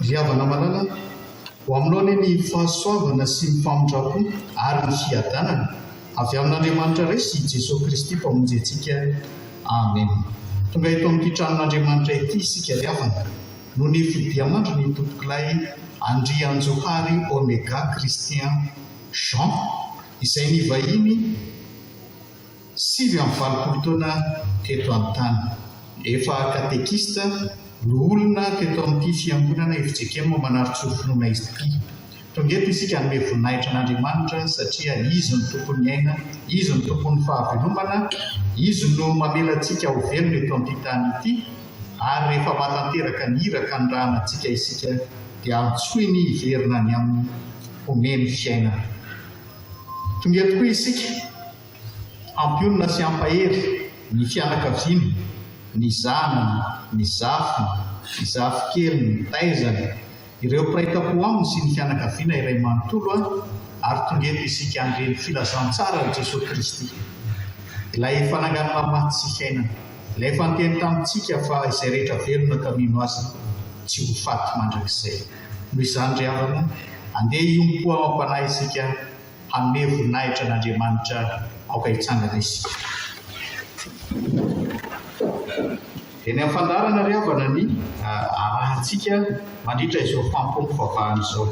Ry havana malala, ho aminao anie ny fahasoavana sy ny famindrampo ary ny fiadanana avy amin'Andriamanitra Ray sy i Jesoa Kristy Mpamonjy antsika. Amen. Tonga eto amin'ity tranon'Andriamanitra ity isika ry havana, noho ny fidiamandry ny Tompokolahy Andrianjohary Omega Christian Jean izay nivahiny, Sivy amby valopolo taona teto an-tany. Efa katekista, loholona teto amin'ity fiangonana FJKM ao Manarintsofinona ity. Tonga eto isika hanome voninahitra an'Andriamanitra satria Izy no Tompon'ny aina, Izy no Tompon'ny fahavelomana, Izy no mamela antsika ho velona eto amin'ity tany ity ary rehefa mahatanteraka ny iraka anirahana antsika isika dia antsoiny hiverina any Aminy homeny fiainana. Tonga eto koa isika. Hampionona sy hampahery ny fianakaviany, ny zanany, ny zafiny, ny zafikeliny, ny taizany, ireo mpiray tampo aminy sy ny fianakaviana iray manontolo aho, ary tongeto isika handre ny filazantsara ry Jesoa Kristy. Ilay efa nangalana maty sy fiainana, Ilay efa niteny tamintsika fa izay rehetra velona ka mino Azy tsy ho faty mandrakizay. Noho izany ry havana, andeha hiompo amam-panahy isika, hanome voninahitra an'Andriamanitra aoka hitsangana isika. Eny amin'ny fandaharana ry havana ny arahantsika mandritra izao fampom pivavahana izao.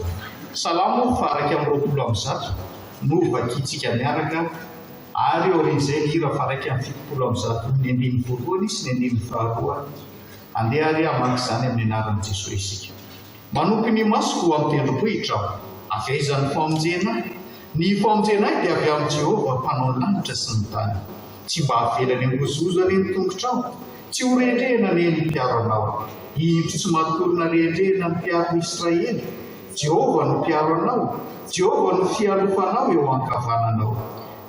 Salamo faha-iraika amby roapolo amby zato no vakintsika miaraka ary aorian'izay ny hira faha-iraika amby fitopolo amby zato ny andininy voalohany sy ny andininy faharoa. Andeha ary hamaky izany amin'ny anaran'i Jesoa isika. Manopy ny masoko ho amin'ny tendrombohitra aho. Avy aiza ny famonjenay? Ny famonjenay dia avy amin'i Jehovah, Mpanao ny lanitra sy ny tany. Tsy mba havelany hamozohozo anie ny tongotrao, tsy horendrehina anie ny mpiaro anao. Indro tsy matorina rendrehina ny mpiaron'i Israely. Jehovah no mpiaro anao, Jehovah no fialofanao eo ankavananao.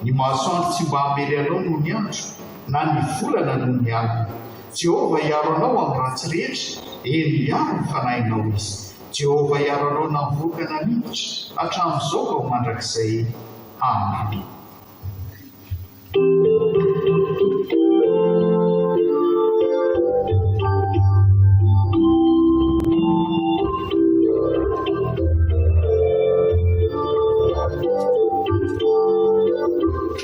Ny masoandro tsy mba hamely anao noho ny andro, na ny volana noho ny alina. Jehovah hiaro anao amin'ny ratsy rehetra, eny, hiaro ny fanahinao izy. Jehovah hiaro anao navokana miditra, hatramin'izao ka ho mandrakizay. Amena.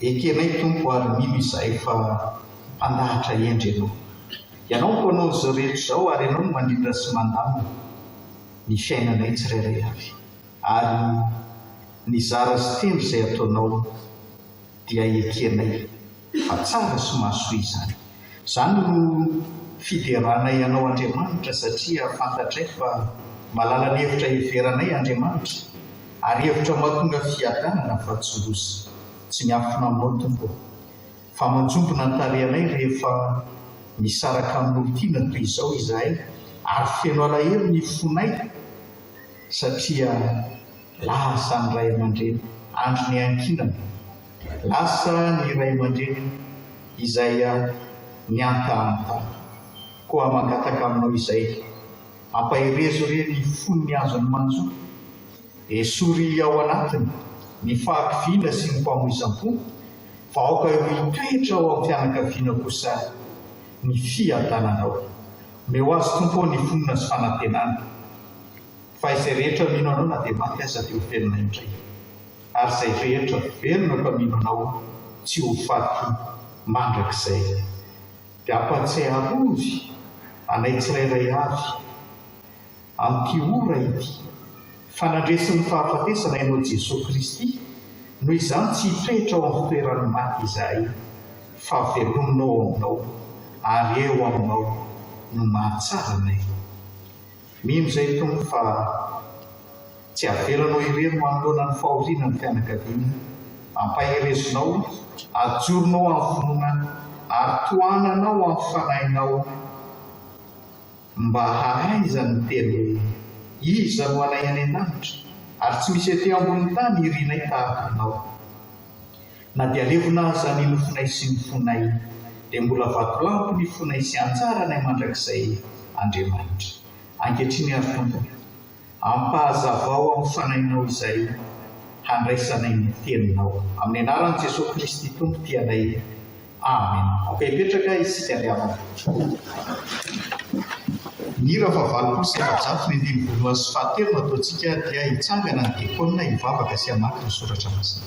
Ekenay Tompo ary mino izahay fa mpandahatra hendry Ianao. Ianao no mpanao izao rehetra izao ary Ianao no mandrindra sy mandamina ny fiainanay tsirairay avy. Ary ny zara sy tendry izay ataonao dia ekenay fa tsara sy mahasoa izany. Izany no fideranay Anao Andriamanitra satria fantatray fa malala ny hevitra hiheveranay Andriamanitra. Ary hevitra mahatonga fiadanana fa tsy loza. Tsy miafina aminao Tompo ô. Fa manjombona ny tarehinay rehefa misaraka amin'olon-tiana toy izao izahay ary feno alahelo ny fonay satria lasa ny ray aman-dreny andry ny iankinana, lasa ny ray aman-dreny izay niantahantaha. Koa mangataka aminao izay. Ampaherezo re ny fon'ny azon'i Manjo. Esory ao anatiny ny fahakiviana sy ny mpamoizam-po, fa aoka ho hitoetra ao amin'ny fianakaviana kosa ny fiadananao. Omeo azy Tompo ô ny vonona sy fanantenana, fa izay rehetra mino Anao na dia maty aza dia ho velona indray, ary izay rehetra velona ka mino Anao tsy ho faty mandrakizay. dia ampatsiaharovy anay tsirairay avy, amin'ity ora ity, fa nandresin'ny fahafatesana ianao Jesoa Kristy, noho izany tsy hitoetra ao amin'ny fitoeran'ny maty izahay, fa velomina ao Aminao, ary eo Aminao no mahatsara anay. Mino izay Tompo fa tsy avelanao irery manoloana ny fahoriana ny fianakaviana. Ampaherezinao, ajoronao amin'ny finoana ary tohananao amin'ny fanahinao mba hahaizany miteny hoe, Iza no anay any an-danitra? ary tsy misy etỳ ambonin'ny tany irinay tahaka anao. Na dia levona aza ny nofonay sy ny fonay, dia mbola vatolampy ny fonay sy antsaranay mandrakizay, Andriamanitra. Ankehitriny àry, Tompo o, ampahazavao amin'ny fanahinao izay handraisanay ny Teninao. Amin'ny anaran'i Jesoa Kristy Tompo tia anay. Amena. Aoka hipetraka isika ry havana. Ny hira fahavalopolo sy efajato ny andininy voalohany sy fahatelo no ataontsika, dia hitsangana ny diakona hivavaka sy hamaky ny soratra masina.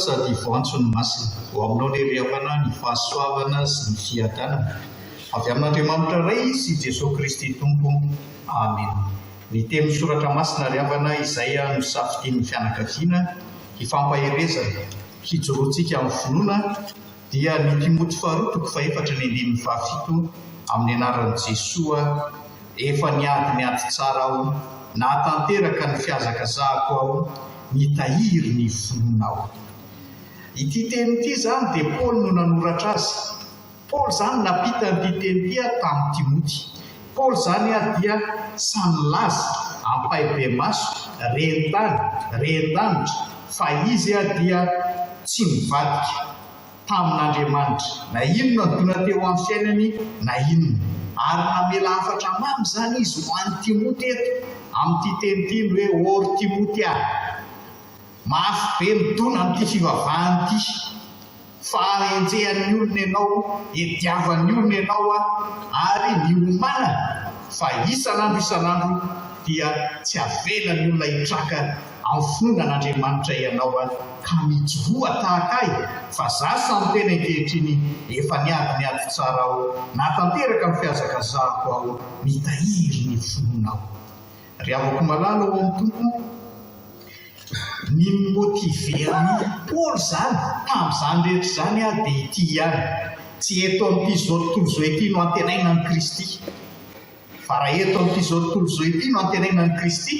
sady ivo antso ny masina. Ho aminao ny hery havana, ny fahasoavana sy ny fiadanana. Avy amin'Andriamanitra Ray sy i Jesoa Kristy Tompo. Amena. Miteny ny soratra masina ry havana Aizaia no safidian'ny fianakaviana hifampaherezana, hijoroantsika amin'ny finoana Dia ny Timoty faharoa toko fahefatra ny andininy fahafito Amin'ny anaran'i Jesoa efa niady miady tsara aho nahatanteraka ny fihazakazahako aho mitahiry ny fonao Ity teny ity izany dia Paoly no nanoratra azy Paoly izany nampita an'ity teny ity tamin'i Timoty Paoly izany ary dia samy laza, ampahibemaso, rentany, rendanitra, fa izy ary dia tsy nivadika tamin'Andriamanitra na inona ny dona teo amin'ny fiainany na inona. Ary namela hafatra mamy izany izy ho an'i Timoty eto amin'ity teny ity ny hoe, O ry Timoty a! Mafy be ny dona amin'ity fivavahana ity. Faharenjehan'ny olona ianao, idiavan'ny olona ianao ary miomàna fa isan'andro isan'andro dia tsy avelan'ny olona hitraka amin'ny fon'Anandriamanitra ianao ka mijoroa tahaka ahy fa za samy tena ankehitriny efa niady niady tsara aho natanteraka ny fihazakazahako aho mitahiry ny fonao Ry havako malala ao amin'ny Tompo an! Ny mi-motiver an'i Paoly izany tamin'izany rehetra izany an dia ity ihany, Tsy eto amin'ity izao tontolo izao ity no antenaina an'i Kristy, fa raha eto amin'ity izao tontolo izao ity no antenaina an'i Kristy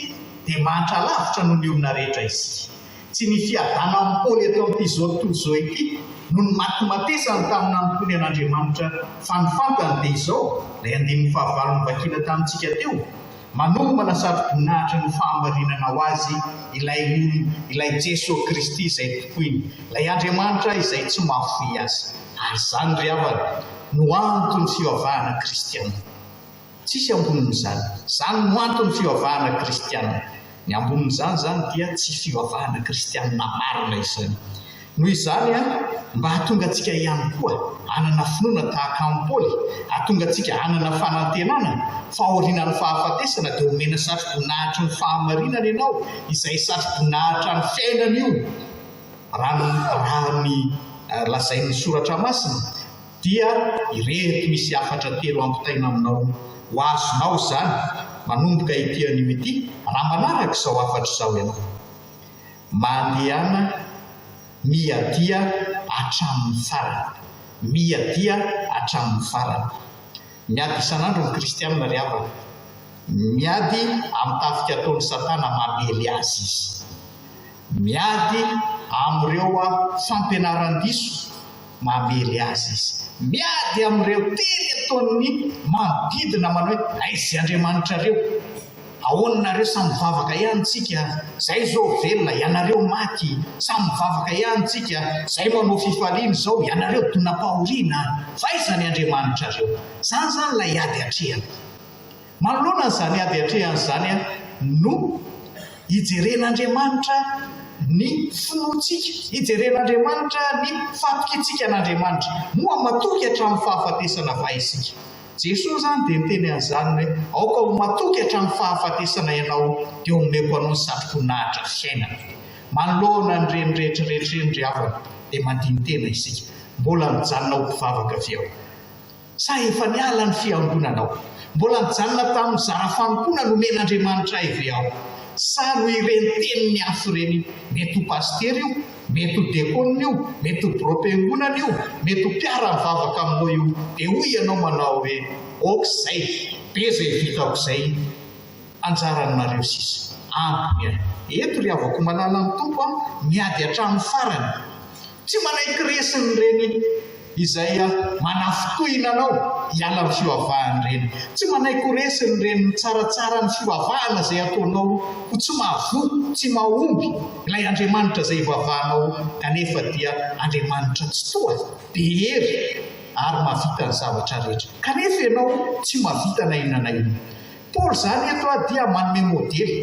dia mahantra lavitra noho ny olona rehetra isika. Tsy ny fiadanan'i Paoly eto amin'ity izao tontolo izao ity no nimatimatesany tamin'ny nampoiny an'Andriamanitra, fa ny fantany dia izao, ilay andininy fahavalo novakina tamintsika teo, Manomana sady voninahitra ny fahamarinana ho Azy ilay olona, ilay Jeso Kristy izay tokoiny, ilay Andriamanitra izay tsy mahafoy Azy. Ary izany, ry havana, no anton'ny fivavahana kristiana. Tsisy ambonin'izany. Izany no anton'ny fivavahana kristiana. Ny ambonin'izany izany dia tsy fivavahana kristianina marina izany. Noho izany, mba hahatonga antsika ihany koa hanana finoana tahaka an'i Paoly, hahatonga antsika hanana fanantenana fa aoriana ny fahafatesana dia homena satroboninahitry ny fahamarinana ianao, izay satroboninahitra ny fiainana io, raha ny lazain'ny Soratra Masina, Dia ireto misy hafatra telo ampitaina aminao ho azonao izany manomboka ity anio ity raha manaraka izao hafatra izao ianao. Mandehana miadia hatramin'ny farany. Miadia hatramin'ny farany. Miady isan'andro ny kristiana ry havana. Miady amin'ny tafika ataon'i Satana mamely azy izy. Miady amin'ireo fampianaran-diso mamely azy izy. Miady amin'ireo teny ataon'ny manodidina manao hoe, Aiza Andriamanitrareo? Ahoana nareo? Samy mivavaka ihany tsika, izay izao velona, ianareo maty. Samy mivavaka ihany tsika, izay manao fifaliana izao, ianareo donam-pahoriana. Fa aiza ny Andriamanitrareo? Izany izany ilay ady atrehina. Manoloana an'izany ady atrehany izany no hijeren'Andriamanitra ny finoantsika, hijeren'Andriamanitra ny fahatokiantsika an'Andriamanitra, moa matoky hatramin'ny fahafatesana va isika? Jesoa izany dia niteny an'izany hoe, Aoka ho matoky hatramin'ny fahafatesana ianao, dia omeko anao ny satroboninahitra fiainana. Manoloana an'ireny rehetra rehetra ireny ry havana dia mandini-tena isika. Mbola mijanona ho mpivavaka ve aho? Sa efa niala ny fiangonanao? Mbola nijanona tamin'ny zara fanompoana nomen'Andriamanitra ahy ve aho? Sa noho ireny teny miafy ireny, mety ho pasitera io, mety ho diakona io, mety ho biraom-piangonana io, mety ho mpiara-mivavaka aminao io, dia hoy ianao manao hoe, Ok izay, be izay vitako izay. anjaran nareo sisa ampy ny anay. Eto ry havako malala ny Tompo an miady hatramin'ny farany tsy manaiky resiny ireny izay manafintohina anao hiala amin'ny fivavahana ireny tsy manaiky ho resiny ireny mitsaratsara ny fivavahana izay ataonao ho tsy mahavoa tsy mahomby ilay Andriamanitra izay ivavahanao kanefa dia Andriamanitra tsitoha be hery ary mahavita ny zavatra rehetra kanefa ianao tsy mahavita na inona na inona Paoly izany eto ary dia manome modely.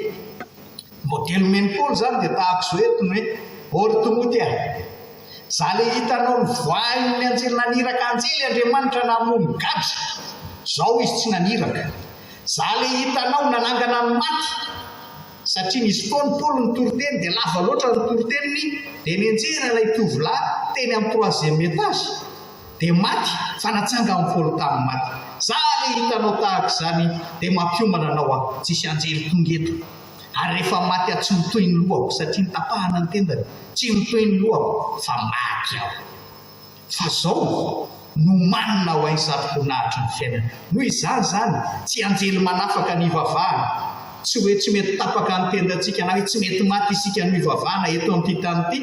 Ny modely omen'i Paoly izany dia tahaka izao eto ny hoe, Ô ry Timoty a! Izaho ilay hitanao nivoahan'ny anjely naniraka anjely Andriamanitra namono gadra. Izao izy tsy naniraka. Izaho ilay hitanao nanangana ny maty. Satria nisy fotoana Paoly nitory teny dia lava loatra ny toriteniny dia nenjehina ilay tovolahy teny amin'ny troisième étage. de maty fa natsangan'ny folo tamin'ny maty za le hitanao tahaka izany de mampiomana anao aho tsisy anjely tonga eto ary rehefa maty aho tsy mitohy ny lohako satria nitapahana ny tendany tsy mitohy ny lohako fa maty aho fa zao nomanina ho ain'ny zato boninahitry ny fiainana noho izany zany tsy anjely manafaka ny ivavahana tsy hoe tsy mety tapaka ny tendantsika na hoe tsy mety maty isika no ivavahana eto amin'ity tany ity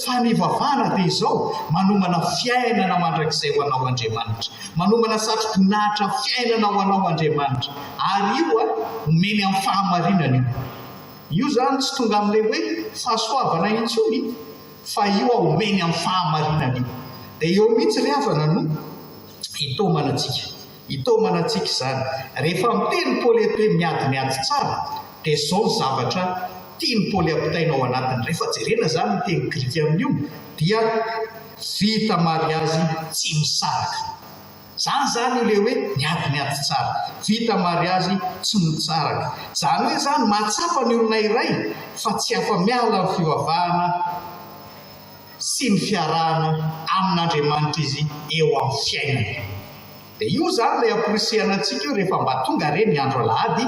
Fa ny hivavahana dia izao, Manomana fiainana mandrakizay ho Anao Andriamanitra. Manomana satroboninahitra fiainana ho Anao Andriamanitra. Ary io a, omeny amin'ny fahamarinana io. Io izany tsy tonga amin'ilay hoe fahasoavana intsony, fa io a, omeny amin'ny fahamarinana io. Dia eo mihitsy ry havana no hitaomana antsika. Hitaomana antsika izany. Rehefa miteny ny pôly etoy miadimiady tsara dia izao ny zavatra tian'i Paoly ampitaina ao anatiny. Rehefa jerena izany ny teny grika amin'io dia vita mariazy tsy misaraka. Izany izany ilay hoe miadimiady tsara. Vita mariazy tsy mitsaraka. Izany hoe izany mahatsapa ny olona iray fa tsy afa-miala amin'ny fivavahana. sy ny fiarahana amin'Andriamanitra izy eo amin'ny fiainany. Dia io izany ilay amporisihana antsika io rehefa mba tonga re ny andro alahady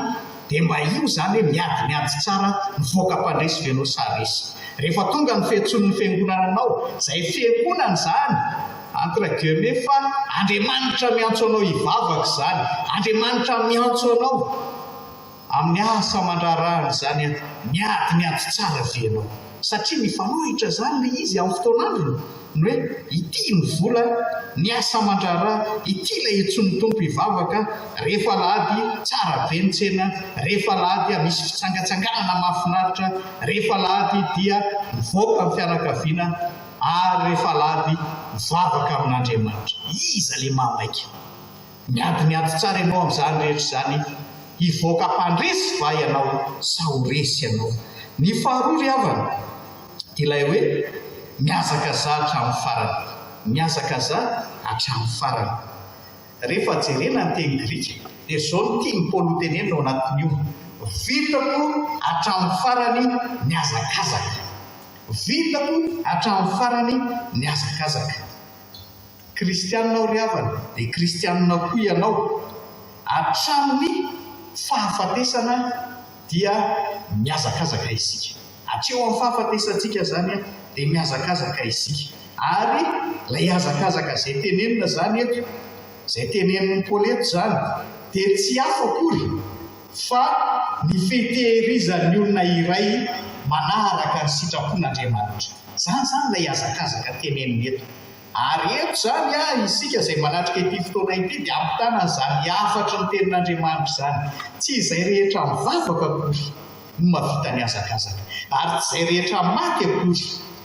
dia mba io izany hoe miady miady tsara mivoaka mpandresy ve anao sa resy. Rehefa tonga ny fihantsoan'ny fiangonana anao, izay fiangonana izany entre guillemets fa Andriamanitra miantso anao hivavaka izany, Andriamanitra miantso anao. Amin'ny asa aman-draharahan' izany an, miady miady tsara ve ianao? Satria mifanohitra izany ilay izy amin'ny fotoan'androny, ny hoe, Ity ny vola an, ny asa aman-draharaha, ity ilay iantsoan'ny Tompo hivavaka an, rehefa alahady tsara be ny tsena an, rehefa alahady misy fitsangantsanganana mahafinaritra an, rehefa alahady dia mivoaka ny fianakaviana an, ary rehefa alahady mivavaka amin'Andriamanitra. Iza ilay mahamaika? Miady miady tsara ianao amin'izany rehetra izany hivoaka mpandresy va ianao sa ho resy ianao? Ny faharoa ry havana dia ilay hoe mihazakazaha hatramin'ny farany. Mihazakazaha hatramin'ny farany. Rehefa jerena ny teny grika dia izao no tian'i Paoly hotenenina ao anatin'io, Vitako hatramin'ny farany ny hazakazaka. Vitako hatramin'ny farany ny hazakazaka. Kristianina aho ry havana, dia Kristianina koa ianao. Hatramin'ny fahafatesana dia mihazakazaka isika. Hatreo amin'ny fahafatesantsika izany dia mihazakazaka isika. Ary ilay hazakazaka izay tenenina izany eto, izay tenenin'i Paoly eto izany, dia tsy hafa akory fa ny fitehirizan'ny olona iray manaraka ny sitrapon'Andriamanitra. Izany izany ilay hazakazaka teneniny eto. Ary eto izany ahy, isika izay manatrika ity fotoana ity dia hampitana an'izany hafatry ny Tenin'Andriamanitra izany. Tsy izay rehetra mivavaka akory no mahavita ny hazakazaka, ary tsy izay rehetra maty akory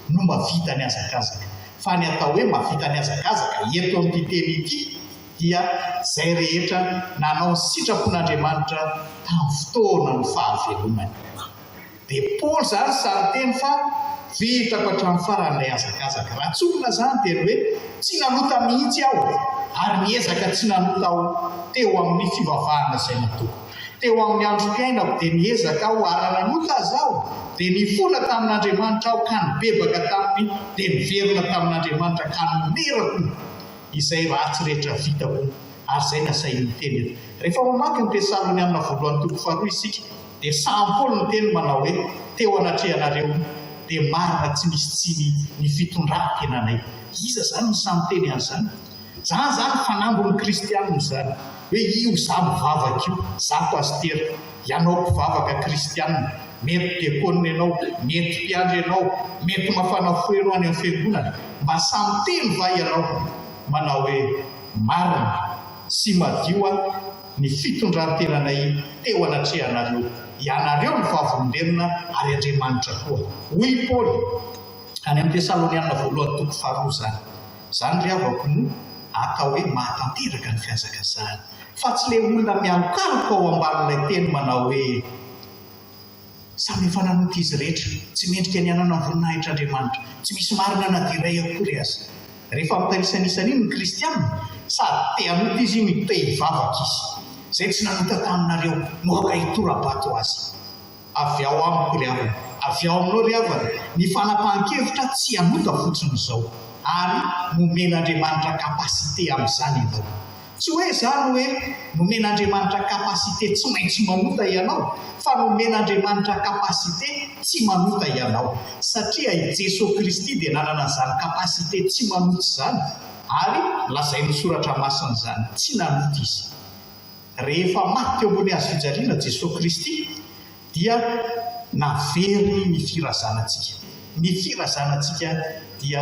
no mahavita ny hazakazaka, fa ny atao hoe mahavita ny hazakazaka eto amin'ity teny ity dia izay rehetra nanao ny sitrapon'Andriamanitra tamin'ny fotoanan'ny fahavelomany. dia Paoly izany sary niteny fa vitako hatramin'ny farany ilay hazakazaka. Raha tsorina izany dia ny hoe tsy nanota mihitsy aho ary niezaka tsy nanota aho teo amin'ny fivavahana izay nataoko. Teo amin'ny androm-piainako dia niezaka aho ary nanota aza aho dia nifona tamin'Andriamanitra aho ka nibebaka taminy dia niverina tamin'Andriamanitra ka nomerako izay ratsy rehetra vitako ary izay nasainy niteny eto. Rehefa mamaky ny Tesalonianina voalohany toko faharoa isika, Dia Saint Paul niteny manao hoe, Teo anatrehanareo dia marina tsy misy tsiny ny fitondran-tenanay. Iza izany no sahy miteny an'izany? Izany izany fanambin'ny kristianina izany, hoe io izaho mivavaka io, izaho pasitera, ianao mpivavaka kristianina, mety diakona ianao, mety mpiandry ianao, mety mafana fo ianao any amin'ny fiangonana, mba sahy miteny va ianao manao hoe, marina sy madio aho? ny fitondrantenanay teo anatrehanareo, ianareo no vavolombelona ary Andriamanitra koa. Hoy i Paoly any amin'ny Tesalonianina Voalohany toko faharoa izany. Izany ry havako no atao hoe mahatanteraka ny fihazakazahana, fa tsy ilay olona mialokaloka ao ambanin'ilay teny manao hoe, Samy efa nanota izy rehetra, tsy mendrika ny hanana voninahitr'Andriamanitra. Tsy misy marina na dia iray akory aza. Rehefa mitanisanisa an'iny ny kristiana, sady te hanota izy iny pe hivavaka izy. Izay tsy nanota taminareo, moaka hitora-bato azy. Avy ao amiko ry havana, avy ao aminao ry havana, ny fanapahan-kevitra tsy hanota fotsiny izao. Ary, nomen'Andriamanitra capacité amin'izany ianao. Tsy hoe za no hoe nomen'Andriamanitra capacité tsy maintsy manota ianao fa nomen'Andriamanitra capacité tsy manota ianao satria i Jesoa Kristy dia nanana izany capacité tsy manota izany ary lazain'ny soratra masina izany tsy nanota izy rehefa maty teo ambony hazofijaliana Jesoa Kristy dia naveriny ny firazanantsika. Ny firazanantsika dia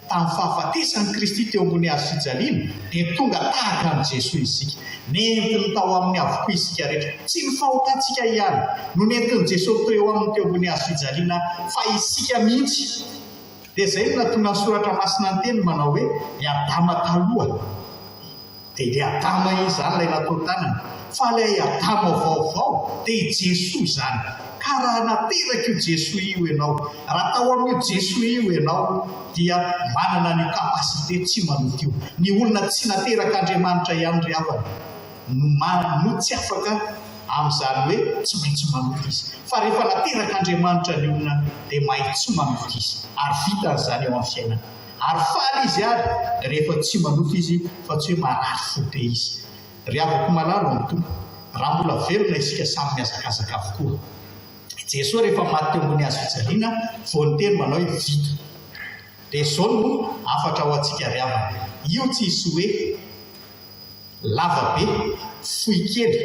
tamin'ny fahafatesan'i Kristy teo ambony hazo fijaliana dia tonga tahaka an'i Jesoa isika. Nentiny tao aminy avokoa isika rehetra. Tsy ny fahotantsika ihany no nentin'i Jesoa teo aminy teo ambony hazo fijaliana fa isika mihitsy. Dia izay no nahatonan'ny Soratra Masina niteny manao hoe, I Adama taloha, dia ilay Adama izany ilay natao tanana, fa ilay Adama vaovao dia i Jesoa izany. Ka raha nateraka io Jesoa io ianao, raha tao amin'io Jesoa io ianao, dia manana an'io capacité tsy maloto io. Ny olona tsy naterak'Andriamanitra ihany ry havana. no marina moa tsy afaka amin'izany hoe tsy maintsy manohy izy fa rehefa nateraka Andriamanitra ny olona dia maintso manohy izy ary vitany izany eo amin'ny fiainany ary faly izy ary rehefa tsy manohy izy fa tsy hoe marary fo be izy ry havako malalo amin'ny Tompo raha mbola velona isika samy mihazakazaka avokoa i Jesoa rehefa maty teo ambony hazo fijaliana vao nitery manao hoe vita Dia izao no hafatra ho antsika ry havana, io tsy hisy hoe lava be, fohy kely,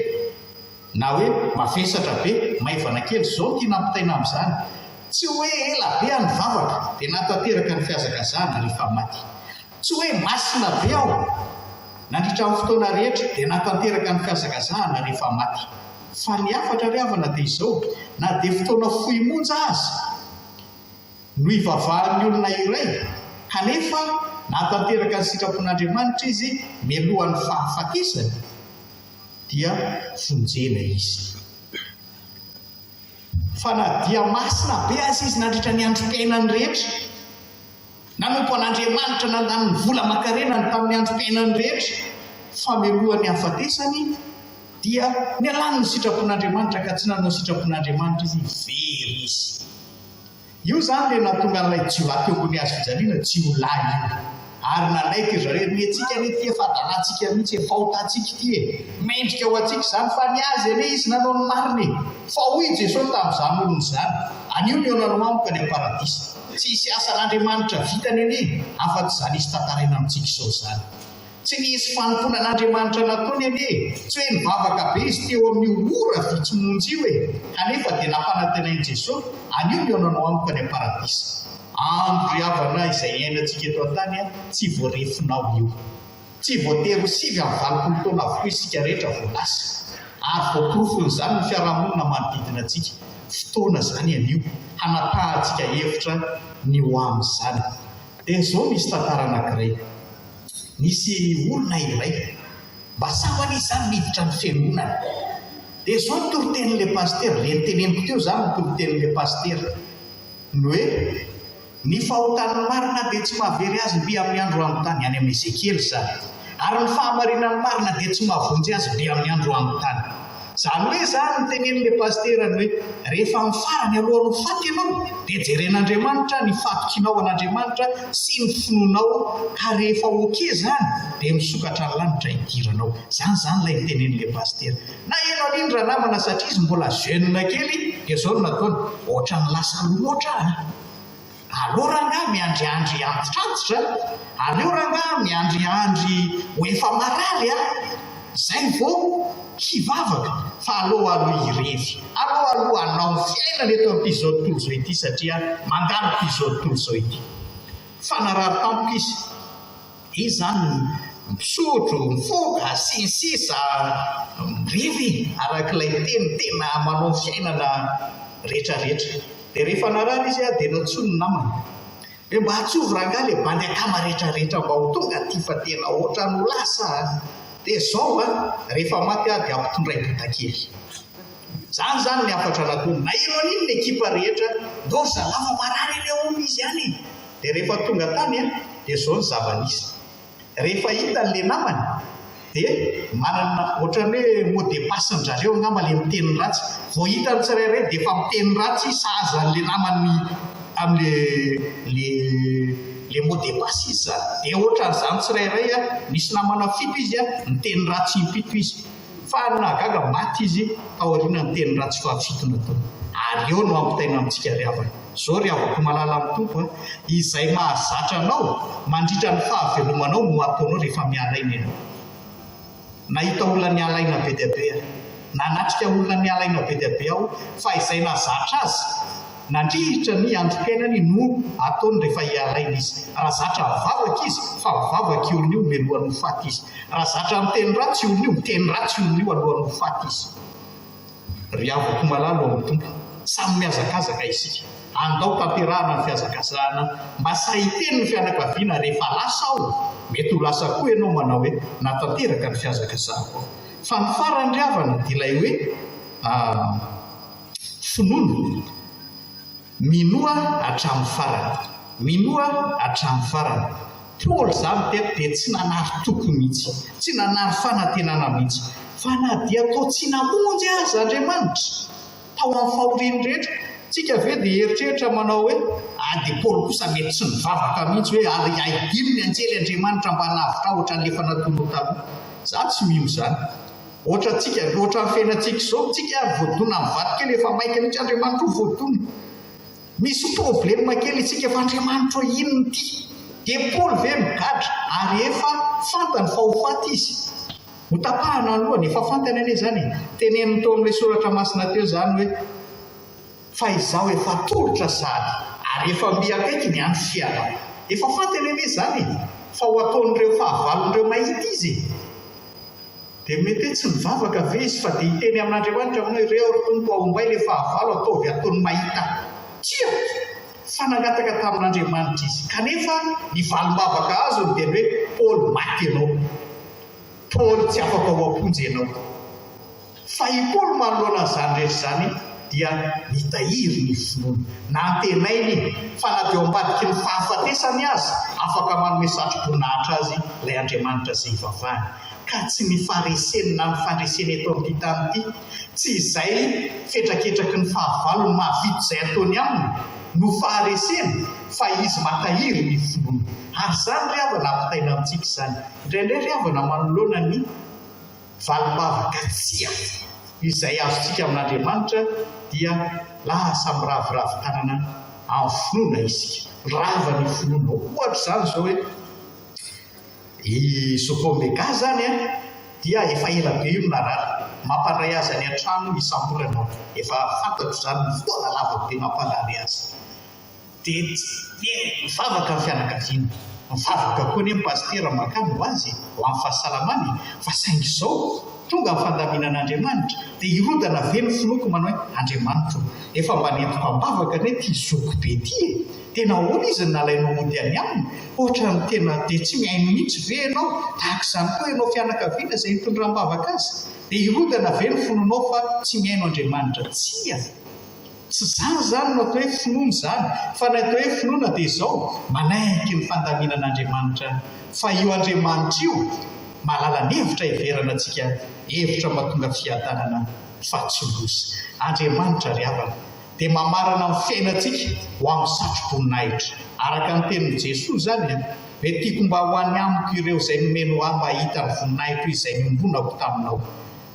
na hoe mavesatra be, maivana kely, izao no tiana hampitaina amin'izany, tsy hoe ela be any vavaka dia nahatanteraka ny fihazakazahana rehefa maty, tsy hoe masina be aho nandritra ny fotoana rehetra dia nahatanteraka ny fihazakazahana rehefa maty, fa ny hafatra ry havana dia izao, na dia fotoana fohy monja aza. no ivavahan'ny olona iray, kanefa nahatanteraka ny sitrapon'Andriamanitra izy mialohan'ny fahafatesany, dia vonjena izy. Fa na dia masina be aza izy nandritra ny androm-piainany rehetra, nanompo an'Andriamanitra nandany ny vola aman-karenany tamin'ny androm-piainany rehetra, fa mialohan'ny hahafatesany dia nialany ny sitrapon'Andriamanitra ka tsy nanao sitrapon'Andriamanitra izy, very izy. Io izany ilay nahatonga an'ilay jiolahy teo ambony hazofijaliana jiolahy io. Ary nanaiky ry zareo, ny antsika anie ity efa adalantsika mihitsy e, faute antsika ity e. Mendrika ho antsika izany fa ny azy anie izy nanao ny marina e. Fa hoy i Jesosy tamin'izany olona izany, anio ny olonanao amiko any am-paradisa. Tsy hisy asan'Andriamanitra vitany anie afa-tsy izany izy tantaraina amintsika izao izany. Tsy nisy fanompoana an'Andriamanitra nataony anie e! Tsy hoe nivavaka be izy teo amin'io ora vitsy monja io e! Kanefa dia nampanantenain'i Jesosy, Anio ny haonanao amiko any am-paradisa. Andro ry havana izay iainantsika eto an-tany tsy voarefinao io. Tsy voatery ho sivy amby valopolo taona avokoa isika rehetra vao lasa. Ary voaporofon'izany ny fiarahamonina manodidina antsika. Fotoana izany anio hanatahantsika hevitra ny ho amin'izany. Dia izao misy tantara anankiray. Nisy olona iray mba sambany izy izany niditra ny fiangonana. Dia izao ny toritenin'ilay pasitera, ilay noteneniko teo izany no toritenin'ilay pasitera, ny hoe, Ny fahotan'ny marina dia tsy mahavery azy mby amin'ny andro hanontany, any amin'i Ezekiela izany, ary ny fahamarinan'ny marina dia tsy mahavonjy azy mby amin'ny andro hanontany. Zany hoe zany no teneny le pasitera ny hoe rehefa amin'ny farany alohan'ny ho faty ianao dia jeren'Andriamanitra ny fatokianao an'Andriamanitra sy ny finoanao ka rehefa ok zany dia misokatra ny lanitra idiranao zany zany lay niteneny le pasitera na eno an'iny ranamana satria izy mbola jeune kely dia zao no nataony ohatran'ny lasa loatra a Aleo rangahy miandriandry antitrantitra a! Aleo rangahy miandriandry ho efa marary a! Zay vao hivavaka fa aleo aloha hirevy, aleo aloha hanao fiainana eto amin'ity zao tontolo izao ity satria mandalo ity zao tontolo izao ity. Fa narary tampoka izy. Izy izany mpisotro, mifoka, sy ny sisa Mirivy araka ilay teny tena manao ny fiainana rehetra rehetra Dia rehefa narary izy dia nantsoiny ny namany hoe mba atsovy rangahy ilay bandy akama rehetra rehetra mba ho tonga aty fa tena ohatrany ho lasa an! Dia zao an! Rehefa maty aho dia ampitondray botakely Izany izany ny hafatra nataony. Naheno an'iny ny ekipa rehetra, ndao ry zalahy fa marary ilay olona izy ihany e! dia rehefa tonga tany an, dia izao ny zava-nisy, rehefa hitany ilay namany dia manana ohatran'ny hoe mot de passe ndry zareo angamba ilay miteny ratsy, vao hitany tsirairay dia efa miteny ratsy sahaza an'ilay namany amin'ilay ilay mot de passe izy izany, dia ohatran'izany tsirairay an, misy namana fito izy an, miteny ratsy impito izy. Faly nahagaga maty izy taoriana ny teny ratsy fahafito nataony. Ary eo no hampitaina amintsika ry havana. Zao ry havako malala amin'ny Tompo a! Izay mahazatra anao mandritra ny fahavelomanao no hataonao rehefa miala aina ianao. Nahita olona nialaina be dia be aho. Nanatrika olona nialaina be dia be aho fa izay nahazatra azy Nandritra ny androm-piainany no ataony rehefa hiaraina izy. Raha zatra mivavaka izy, fa mivavaka io ny io mialohan'ny ho faty izy. Raha zatra miteny ratsy io ny io, miteny ratsy io ny io alohan'ny ho faty izy. Ry havako malala ao amin'ny Tompo, samy mihazakazaka isika. Andao tanterahana ny fihazakazahana mba sahy hiteny ny fianakaviana rehefa lasa aho. Mety ho lasa koa ianao manao hoe, Na tanteraka ny fihazakazahako aho. Fa ny farany ry havana dia ilay hoe, Aah. Finono, minoa hatramin'ny farany, minoa hatramin'ny farany. Paoly izany teto dia tsy nanary toky mihitsy, tsy nanary fanantenana mihitsy, fa na dia toa tsy namonjy aza Andriamanitra tao amin'ny fahoriany rehetra. Tsika ve dia hieritreritra manao hoe, Ay dia Paoly kosa mety tsy nivavaka mihitsy hoe, Ary aidino ny anjely Andriamanitra mba hanavotra ahy ohatran'ilay efa natoninao taloha. Izaho tsy mino izany. Ohatrantsika, ohatran'ny fiainantsika izao, tsika ary voadona amin'ny vato kely efa maika mihitsy, Andriamanitro voadona. Misy problème kely isika fa Andriamanitro hoe inona ity? Dia Paoly ve migadra ary efa fantany fa ho faty izy? Hotapahana ny lohany, efa fantany anie izany e! Teneniny teo amin'ilay soratra masina teo izany hoe Fa izaho efa atolotra sady ary efa mby akaiky ny andro sy ianao. Efa faty anie lé izany e! Fa ho ataon'ireo fahavalon'ireo mahita izy e! Dia mety hoe tsy nivavaka ve izy fa dia hiteny amin'Andriamanitra aminao ireo ry Tompo ao ombay le fahavalo ataovy ataony mahita. Tsia! Fa nangataka tamin'Andriamanitra izy. Kanefa ny valim-bavaka azony dia ny hoe Paoly maty ianao. Paoly tsy afaka ho am-ponja ianao. Fa i Paoly manoloana an'izany rehetra izany dia nitahiry ny finoany. Nantenainy fa na dia ao ambadiky ny fahafatesany aza, afaka manome satroboninahitra azy ilay Andriamanitra izay ivavahany, ka tsy ny fahareseny na ny fandreseny eto amin'ity tany ity, tsy izay fetraketraky ny fahavalony mahavita izay ataony aminy, no fahareseny, fa izy matahiry ny finoany. Ary izany ry havana ampitaina amintsika izany indraindray ry havana manoloana ny. Valimavaka Tsia izay azontsika amin'Andriamanitra dia lasa miraviravy tanana amin'ny finoana isika. Rava ny finoana. Ohatra izany izao hoe i Zopomega izany dia efa ela be io no narary. Mampandray azy any an-trano isambolana aho. Efa fantatro izany ny fotoana lava be nampanary azy. dia tsy tiany. Mivavaka ny fianakaviana, mivavaka koa anie ny pasitera mankany ho azy ho an'ny fahasalamany e! Fa saingy izao tonga ny fandaminan'Andriamanitra dia hirodana ve ny finoako manao hoe Andriamanitra o! Efa mba nentiko am-bavaka anie ity zoky be ity e! Tena ahoana izy no nalainao hody any aminy? Ohatran'ny tena dia tsy mihaino mihitsy ve ianao? Tahaka izany koa ianao fianakaviana izay nitondram-bavaka azy? Dia hirodana ve ny finoanao fa tsy mihaino Andriamanitra? Tsia! Tsy zany izany no atao hoe finoana izany, fa ny atao hoe finoana dia izao, manaiky ny fandaminana Andriamanitra, fa io Andriamanitra io mahalala ny hevitra hiverana antsika, hevitra mahatonga fiadanana fa tsy loza. Andriamanitra ry havana dia mamarana ny fiainantsika ho amin'ny satro-boninahitra, araka ny tenin'i Jesoa izany an, hoe tiako mba ho any amiko ireo izay nomeny ho ahy mba hahita ny voninahitro izay niombonako taminao.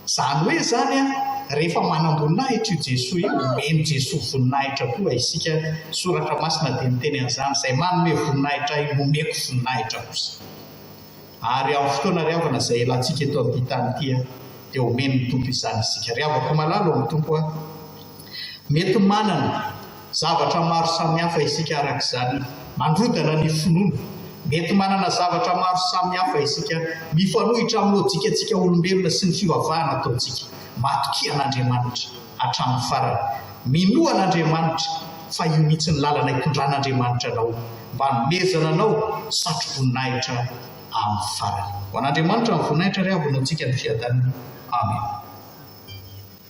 Izany hoe izany an, rehefa manam-boninahitra io Jesoa io, omeny Jesoa voninahitra koa isika, Soratra Masina dia miteny an'izany, izay manome voninahitra Ahy, nomeko voninahitra kosa. Ary amin'ny fotoana ry havana izay ialantsika eto amin'ity tany ity an, dia omen'ny Tompo izany isika. Ry havako malala ao amin'ny Tompo an. Mety manana zavatra maro samihafa isika araka izany mandrodana ny finoana. Mety manana zavatra maro samihafa isika mifanohitra amin'ny lojikantsika olombelona sy ny fivavahana ataontsika. Matokia an'Andriamanitra hatramin'ny farany. Minoa an'Andriamanitra fa io mihitsy ny lalana hitondran'Andriamanitra anao mba hanomezana anao satro-boninahitra amin'ny farany. Ho an'Andriamanitra ny voninahitra ry havana ho antsika ny fiadanana. Amen.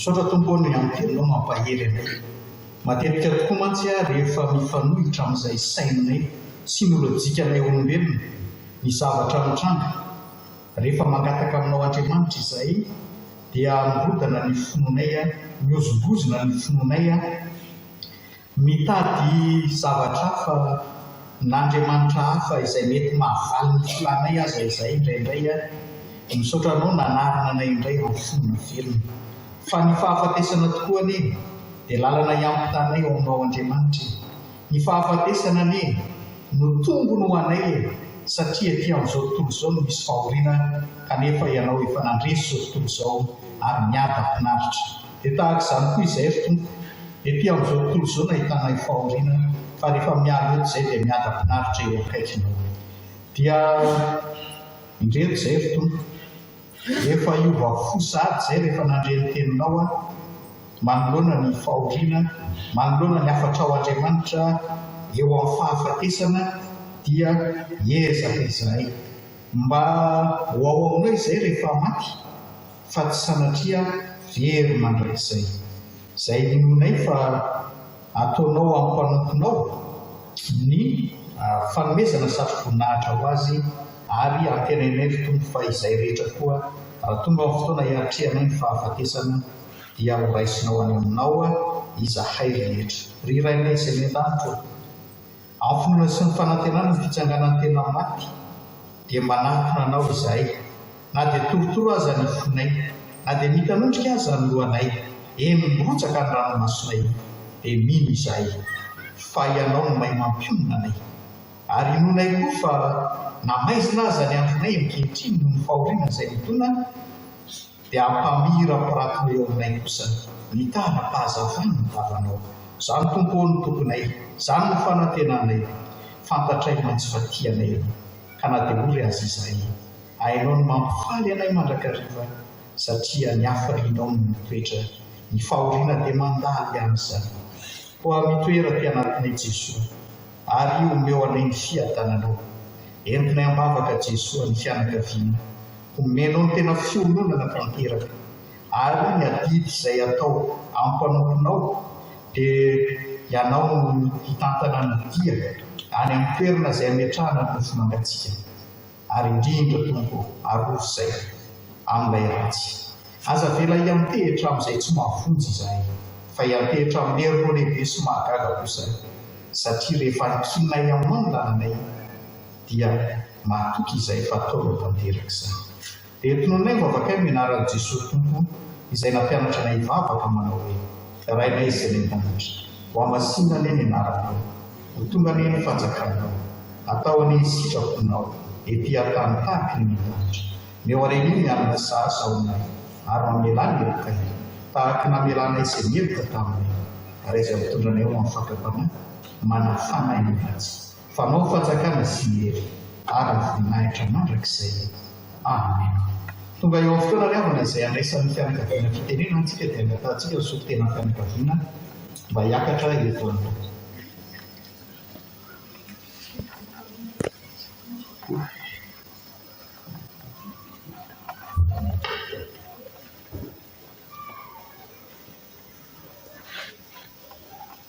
Misaotra Tompo o noho ihany teninao mampahery anay. Matetika tokoa mantsy aho rehefa mifanohitra amin'izay sainay sy ny lojikanay olombelona ny zavatra mitranga, Rehefa mangataka aminao Andriamanitra izahay dia mirodana ny finoanay a, mihozombozona ny finoanay a, mitady zavatra hafa na Andriamanitra hafa izay mety mahavaly ny filànay aza izahay indraindray a. Misaotra Anao nanarina anay indray amin'ny finoana velona. Fa ny fahafatesana tokoa anie dia làlana hiampitanay ao Aminao Andriamanitra e. Ny fahafatesana anie no tombony ho anay e, satria aty amin'izao tontolo izao no misy fahoriana kanefa ianao efa nandresy izao tontolo izao ary miadam-pinaritra. Dia tahaka izany koa izahay ry Tompo, ety amin'izao tontolo izao nahitanay fahoriana fa rehefa miala eto izay dia miadam-pinaritra eo akaikinao. Dia indreto izay ry Tompo. Efa hiova fo sahady izay rehefa nandre ny teninao aho, manoloana ny fahoriana, manoloana ny hafatrao Andriamanitra eo amin'ny fahafatesana dia hiezaka izahay mba ho ao aminao izay rehefa maty fa tsy sanatria very mandrakizay. Izay inoanay fa Ataonao amin'ny mpanomponao ny fanomezana satroboninahitra ho azy, ary antenainay, ry Tompo, fa izay rehetra koa, raha tonga amin'ny fotoana hiatrehanay ny fahafatesana, dia horaisinao any Aminao izahay rehetra. Ry Rainay izay any An-danitra ô! Ampinono sy ny fanantenana ny fitsanganan'ny tena maty dia manantona anao izahay na dia torotoro aza ny fonay na dia mitanondrika aza ny lohanay eny mirotsaka ny ranomasonay dia mino izahay fa ianao no mahay mampionona anay ary inoanay koa fa na maizina aza ny andronay ankehitriny noho ny fahoriana izay midona Dia ampamira ampiratoa eo aminay kosa ny tana fa azafady ny vavanao. Zany Tompo ô no Tomponay, zany no fanantenanay. Fantatray mantsy fa tia anay Ianao, ka na dia ory aza izahay, Hainao ny mampifaly anay mandrakariva, satria ny hafalianao no mitoetra, ny fahoriana dia mandalo ihany izany. Koa mitoera aty anatinay Jesoa, Ary omeo anay ny fiadananao. Entinay am-bavaka Jesoa ny fianakaviana. Homenao ny tena fiononana tanteraka. Ary ny adidy izay atao ampanomponao dia Ianao no hitantana ny dia any amin'ny toerana izay ametrahana ny nofo mangatsiaka. ary indrindra Tompo ô arovy izay amin'ilay ratsy, aza avela hiantehitra amin'izay tsy mahavonjy izay fa hiantehitra amin'ny herinao lehibe sy mahagaga koa izay satria rehefa ankinay aminao ny lalanay dia matoky izay fa ataonao tanteraka izay. Dia tononay vavakay no ianaran'i Jesoa Tompo izay nampianatra anay hivavaka manao hoe, Rainay izay any an-danitra, ho hamasinina anie ny anaranao, ho tonga anie ny fanjakanao, atao anie ny sitraponao ety an-tany tahaka eny an-danitra. Meo harenio ny alina saha sahonay ary mamelà ny helokay, tahaka namelànay izay niheloka taminay, ary izay mitondra anay ho amin'ny fakam-panahy, manafana ny ratsy. Fanao fanjakana sy hery ary ny voninahitra mandrakizay. Amena. Tonga eo amin'ny fotoana ry havana izay handraisan'ny fianakaviana fitenenana antsika dia angatahantsika ny solontenan'ny fianakaviana mba hiakatra eto aloha.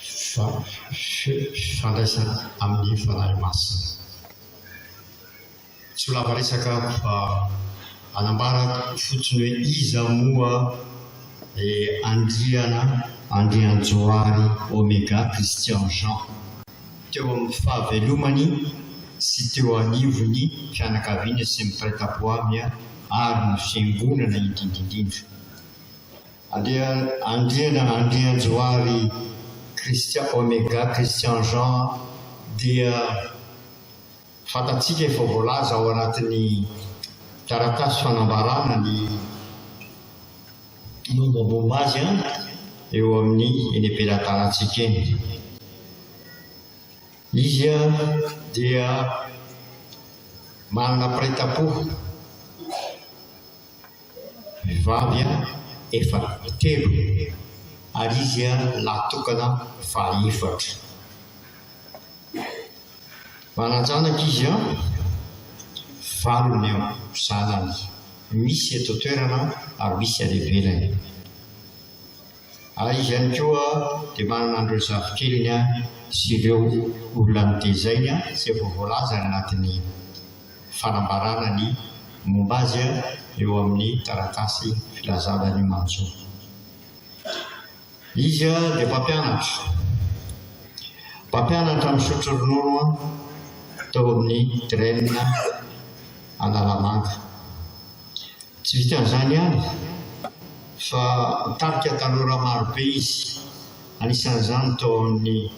fifandraisana amin'ny Fanahy Masina. Tsy ho lava resaka aho fa hanambara fotsiny hoe iza moa i Andriana Andrianjohary Omega Christian Jean, teo amin'ny fahavelomany sy teo anivon'ny fianakaviana sy ny mpiray tampo aminy ary ny Fiangonana indrindra indrindra. Andriana Andrianjohary Christian Omega Christian Jean dia fantatsika efa voalaza ao anatin'ny taratasy fanambarana ny mombamomba azy eo amin'ny eny am-pelatanantsika eny. Izy dia manana mpiray tampo. Vehivavy an, efa lahy telo ary izy an lahy tokana faha efatra. Manan-janaka izy an, valo ny zanany, misy eto an-toerana ary misy any ivelany. ary izy ihany koa dia manana an'ireo zafikeliny sy ireo olona notezainy izay vao voalaza any anatin'ny fanambarana ny momba azy eo amin'ny taratasy filazana an'i Mansoor. Izy dia mpampianatra, mpampianatra misotro ronono tao amin'ny Dren Analamanga. Tsy vitan'izany ihany fa nitarika tanora marobe izy, anisan'izany tao amin'ny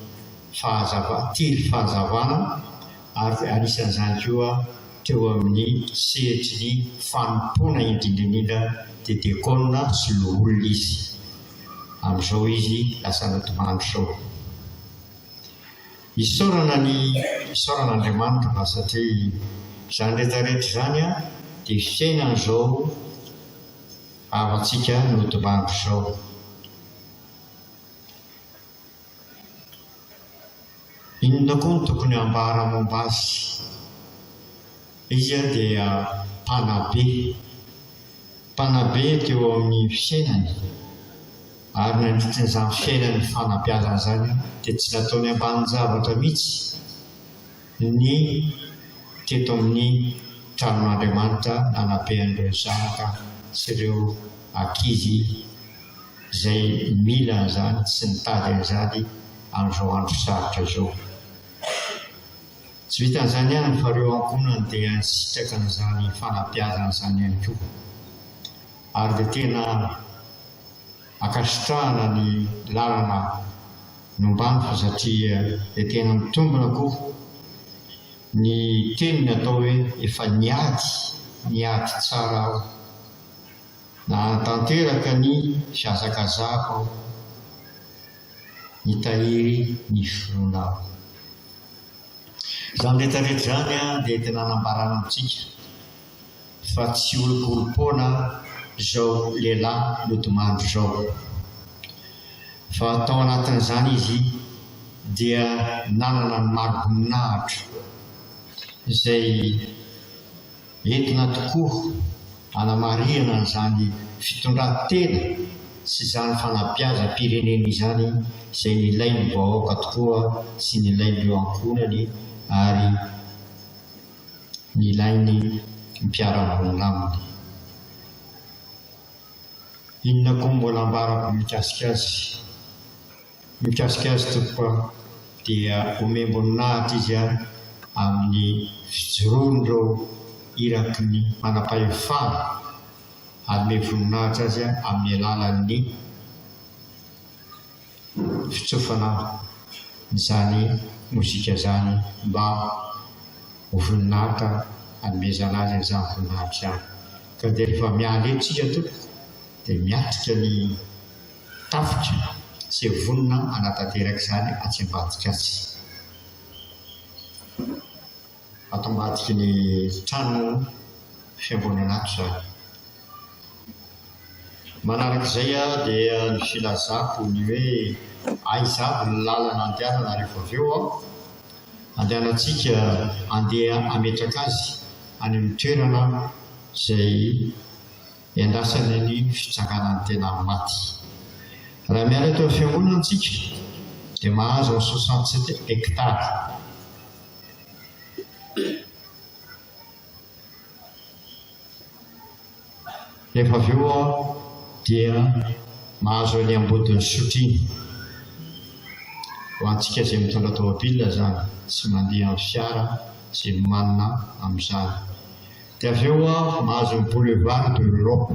fahazava, tily fahazavana ary anisan'izany koa teo amin'ny sehatry ny fanompoana indrindra indrindra dia dekona sy loholona izy. Amin'izao izy lasa nodimandry izao. Isaorana ny isaorana Andriamanitra mba satria izany rehetrarehetra izany dia fiainan'izao havantsika nodimandry izao. Inona koa no tokony hambara momba azy? Izy dia mpanabe, mpanabe teo amin'ny fiainany. ary nandritrin'izany fiainany fanabeazana izany dia tsy nataony ambanin-javatra mihitsy ny teto amin'ny tranon'Andriamanitra nanabe an'ireo zanaka sy ireo ankizy izay mila an'izany sy nitady an'izany amin'izao andro sarotra izao. Tsy vitan'izany ihany fa ireo ankohonany dia nisitraka an'izany fanabeazana izany ihany koa. ary dia tena ankasitrahana ny lalana nombaniko satria dia tena mitombina koa ny teniny atao hoe efa niady niady tsara aho nahatanteraka ny fihazakazahako aho nitahiry ny finoanako izany rehetra rehetra izany dia tena nambarana amintsika fa tsy olom-polom-poana izao lehilahy nodimandry izao. Fa tao anatin'izany izy dia nanana ny mari-boninahitra izay entina tokoa hanamarihana an'izany fitondran-tena sy izany fanabeazam-pirenena izany izay nilain'ny vahoaka tokoa sy nilain'ireo ankohonany ary milay ny mpiara-monina aminy. Inona koa mbola ambarako mikasika azy? Mikasika azy tompoko a, dia omem-boninahitra izy a amin'ny fijoroany ireo iraky ny manam-pahefana, hanome voninahitra azy amin'ny alalan'ny. fitsofana izany mozika izany mba ho voninahitra hanomezana azy an'izany voninahitra izany. Ka dia rehefa miala eo tsika tompoko dia miatrika ny tafika izay vonona hanatanteraka izany atsy ambadika atsy. ato ambadiky ny trano fiangonana ato izany. Manaraka izay aho dia ny filazako ny hoe aiza avy ny lalana andehanana ary efa avy eo aho andehanantsika andeha ametraka azy any amin'ny toerana izay iandrasany ny fitsanganan'ny tena amin'ny maty. Raha miala teo amin'ny fiangonana antsika dia mahazo ny 67 hectares. Rehefa avy eo aho dia mahazo an'i Ambodin'i Sotry iny. Ho antsika izay mitondra tômôbila izany, tsy mandeha amin'ny fiara izay mimanina amin'izany. Dia avy eo aho mahazo ny Boulevard de l'Europe.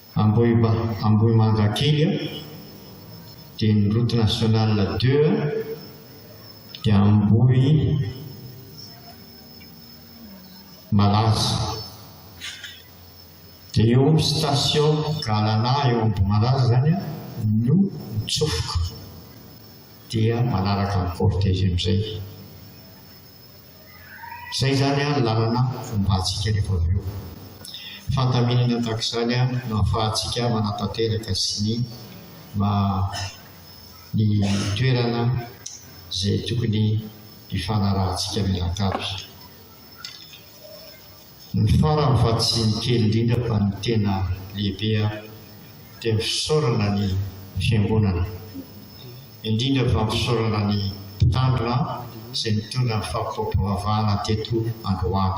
Ambohiba Ambohimangakely a, dia ny route nationale deux a, dia Ambohi malaza, dia eo amin'ny station Galana eo Ambohimalaza izany a no mitsofoka dia manaraka ny cortège amin'izay. Izay izany an ny lalana hombantsika rehefa avy eo. Fandaminana tahaka izany an no ahafahantsika manatanteraka sy ny ma ny toerana izay tokony hifanarahantsika mianakavy. Ny farany fa tsy ny kely indrindra fa ny tena lehibe ary dia ny fisaorana ny Fiangonana, indrindra fa mpisaorana ny Mpitandrina izay nitondra ny fampivavahana teto androany.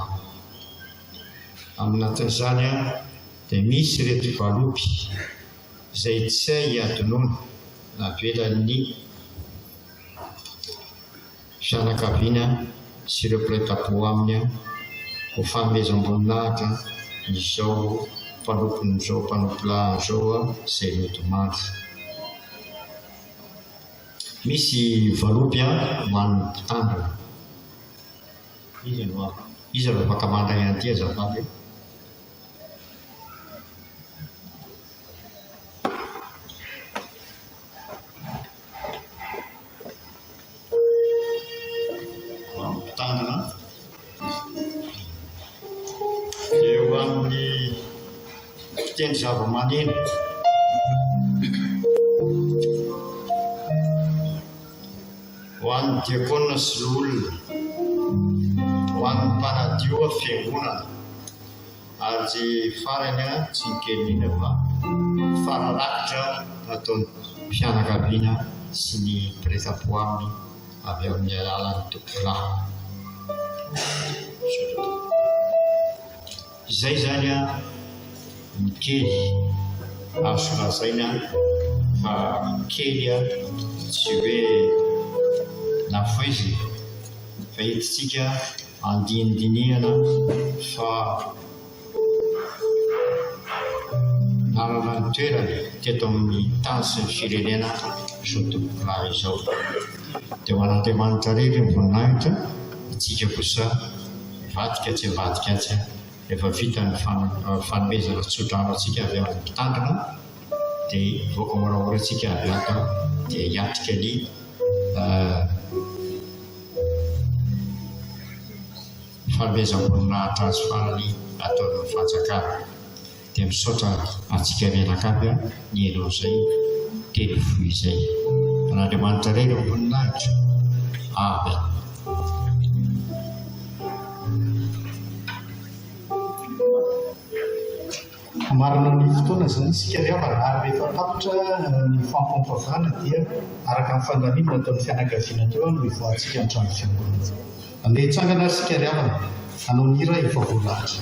Aminatin'izany dia misy ireto valopy izay tsy hay iadinoana navelan'ny. fianakaviana sy ireo mpiray tampo aminy ho fanomezam-boninahitra izao mpanompon'izao mpanompo lahy izao izay nodimandry. Misy valopy ho an'ny mpitandrina. Iza no avy? Iza no afaka mandray an'ity azafady e? Mampitandrina izy ity. Eo amin'ny fiteny zavamaneno. Ho an'ny diakona sy loholona, ho an'ny mpanadio fiangonana. ary farany an tsy nikely indrindra fa ny fara rakitra nataon'ny fianakaviana sy ny mpiresapo aminy avy amin'ny alalan'ny tokra izay zany an ny kely azo lazaina fa kely an tsy hoe nafoizina fa hitsitsika Andinindinihana fa nanana ny toerany teto amin'ny tany sy ny firenena izao tompokolahy izao. Dia ho an'Andriamanitra irery ny voninahitra, antsika kosa hivadika tsy hivadika atsy rehefa vita ny fanomezana tsodrano antsika avy amin'ny mpitandrina dia hivoaka moramora antsika avy ato dia hiatrika ny fandrezam-boninahitra azy farany ataon'ny fanjakana dia misaotra antsika mianakavy a ny enao izay telo fohy izay an'Andriamanitra iray no voninahitra amen Hamarana ny fotoana izany isika ry havana ary rehefa tapitra ny fampaham-pavahana dia araka ny fandaniana nataon'ny fianakaviana teo no hivoahantsika ny trano fiangonana. Andeha hitsangana ary isika ry havana hanao ny hira efa voalahatra.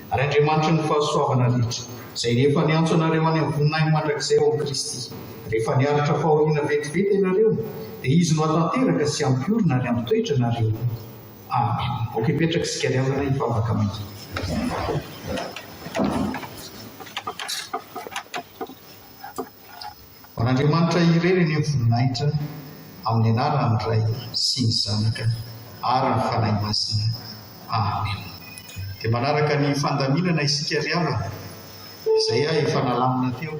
ary Andriamanitry ny fahasoavana rehetra, izay rehefa niantso anareo any amin'ny voninahiny mandrakizay ao amin'i Kristy, rehefa niaritra fahoriana vetivety ianareo, dia Izy no hatanteraka sy hampiorina ary hampitoetra anareo. Amen. Aoka hipetraka isika ary havana hivavaka mankeny. An'Andriamanitra irery anie ny voninahitra amin'ny anaran'ny Ray sy ny Zanaka ary ny Fanahy Masina. Amena. Dia manaraka ny fandaminana isika ry havana, izay aho efa nalamina teo.